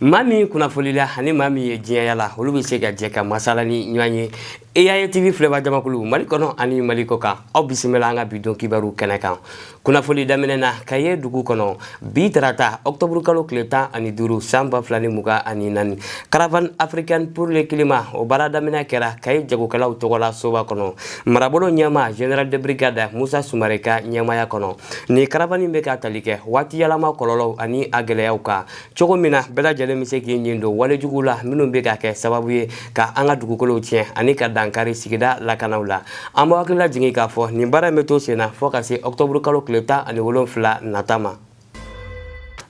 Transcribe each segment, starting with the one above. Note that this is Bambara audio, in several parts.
maa min kunnafolila ani maa min ye diɲɛ yaala olu bɛ se ka jɛ ka masala ni ɲɔgɔn ye yayi tv filɛbaa jamakulu mali kɔnɔ ani mali kɔkan aw bisimila an ka bi don kibaru kɛnɛ kan kunnafoli daminɛ na kayi dugu kɔnɔ bi tarata ɔktɔburu kalo tile tan ani duuru san ba fila ni mugan ani naani caravane africaine pour le climat o baara daminɛ kɛra kayi jagokɛlaw tɔgɔ la soba kɔnɔ marabolo ɲɛmaa general de brigade musa sumare ka ɲɛmaaya kɔnɔ nin caravane bɛ ka tali kɛ waati yɛlɛma kɔlɔlɔw ani a gɛlɛyaw kan cogo min na bɛɛ lajɛlen bɛ se k'i ɲin don walejuguw la minnu bɛ ka kɛ sababu ye ka an ka dugukolow tiɲɛ ani ka dankari sigida lakanaw la an b'aw hakilila jigin k'a fɔ nin baara in bɛ to sen na fɔɔ ka se ɔkutɔburu kalo tile tan ani wolonfila nata ma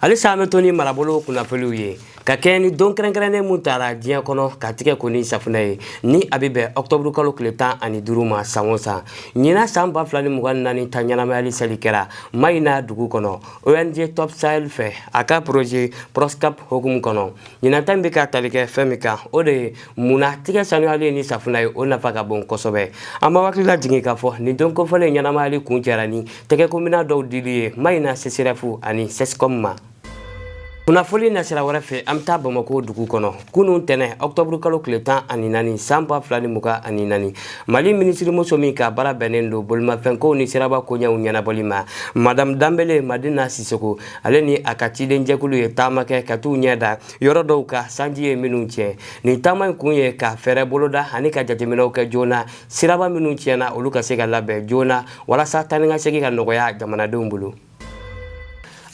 halisa an bɛ to ni marabolo kunnafoliw ye ka kɛɲɛ ni don kɛrɛnkɛrɛnnen min tara diɲɛ kɔnɔ ka tigɛ ko ni safunɛ ye ni a bɛ bɛn ɔkutɔburu kalo tile tan ani duuru ma san o san ɲinan san ba fila ni mugan ni naani ta ɲɛnamayali seli kɛra mayina dugu kɔnɔ ONG Stop Sahel fɛ a ka projet Proscap hokumu kɔnɔ ɲinata min bɛ ka tali kɛ fɛn min kan o de ye mun na tigɛ sanuyali ni safunɛ ye o nafa ka bon kosɛbɛ an b'aw hakili lajigin k'a fɔ nin don kofɔlen ɲɛnamayali kuncɛra ni tɛgɛkominɛn dɔw dili ye maɲina CSREF ani CSCOM ma kunnafoli nasira wɛrɛ fɛ an bɛ taa bamako dugu kɔnɔ kunun tɛnɛ ɔkutɔburu kalo tile tan ani naani san ba fila ni mugan ani naani mali minisirimuso min ka baara bɛnnen don bolimafɛnkow ni siraba koɲɛw ɲɛnabɔli ma madamu danbele madina sisoko ale ni a ka ciden jɛkulu ye taama kɛ ka t'u ɲɛ da yɔrɔ dɔw kan sanji ye minnu tiɲɛ nin taama in kun ye ka fɛɛrɛ boloda ani ka jateminɛw kɛ joona siraba minnu tiɲɛna olu ka se ka labɛn joona walasa taanikasegin ka nɔgɔya jamanadenw bolo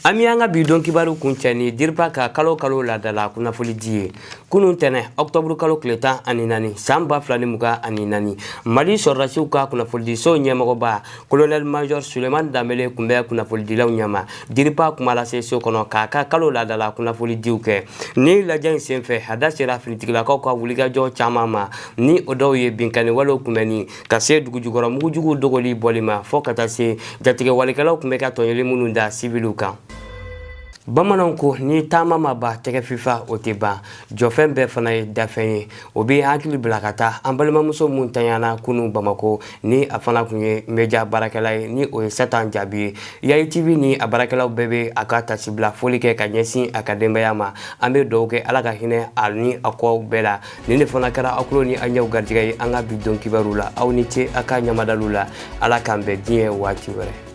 an bɛ an ka bi don kibaru kuncɛ ni diripa ka kalo kalo laadala kunnafolidi ye kunun tɛnɛ ɔkutɔburu kalo tile tan ani naani san ba fila ni mugan ani naani mali sɔrɔdasiw ka kunnafolidiso ɲɛmɔgɔba kolonɛli majɔr suleman danbele kun bɛ kunnafolidilaw ɲɛma diripa kumalaseso kɔnɔ k'a ka kalo laadala kunnafolidiw kɛ nin lajɛ in senfɛ a da sera finitigilakaw ka wulikajɔ caman ma ni o dɔw ye binkanni walew kunbɛnni ka se dugujukɔrɔ mugujuguw dogoli bɔli ma fɔɔ ka taa se jatigɛwalekɛlaw tun bɛ ka tɔɲɔli minnu da siviliw kan bamananw ko ni taama ma ban tɛgɛ fifa o tɛ ban jɔfɛn bɛɛ fana ye dafɛn ye o bɛ n hakili bila ka taa an balimamuso min tanyana kunun bamako ni a fana tun ye meja baarakɛla ye ni o ye satan jaabi ye yayi tv ni a baarakɛlaw bɛɛ bɛ a ka taasibila foli kɛ ka ɲɛsin a ka denbaya ma an bɛ duwaw kɛ ala ka hinɛ a ni a kɔw bɛɛ la nin de fana kɛra aw kulo ni aw ɲɛw garijɛgɛ ye an ka bi don kibaru la aw ni ce aw ka ɲamadalu la ala k'an bɛn diɲɛ waati wɛrɛ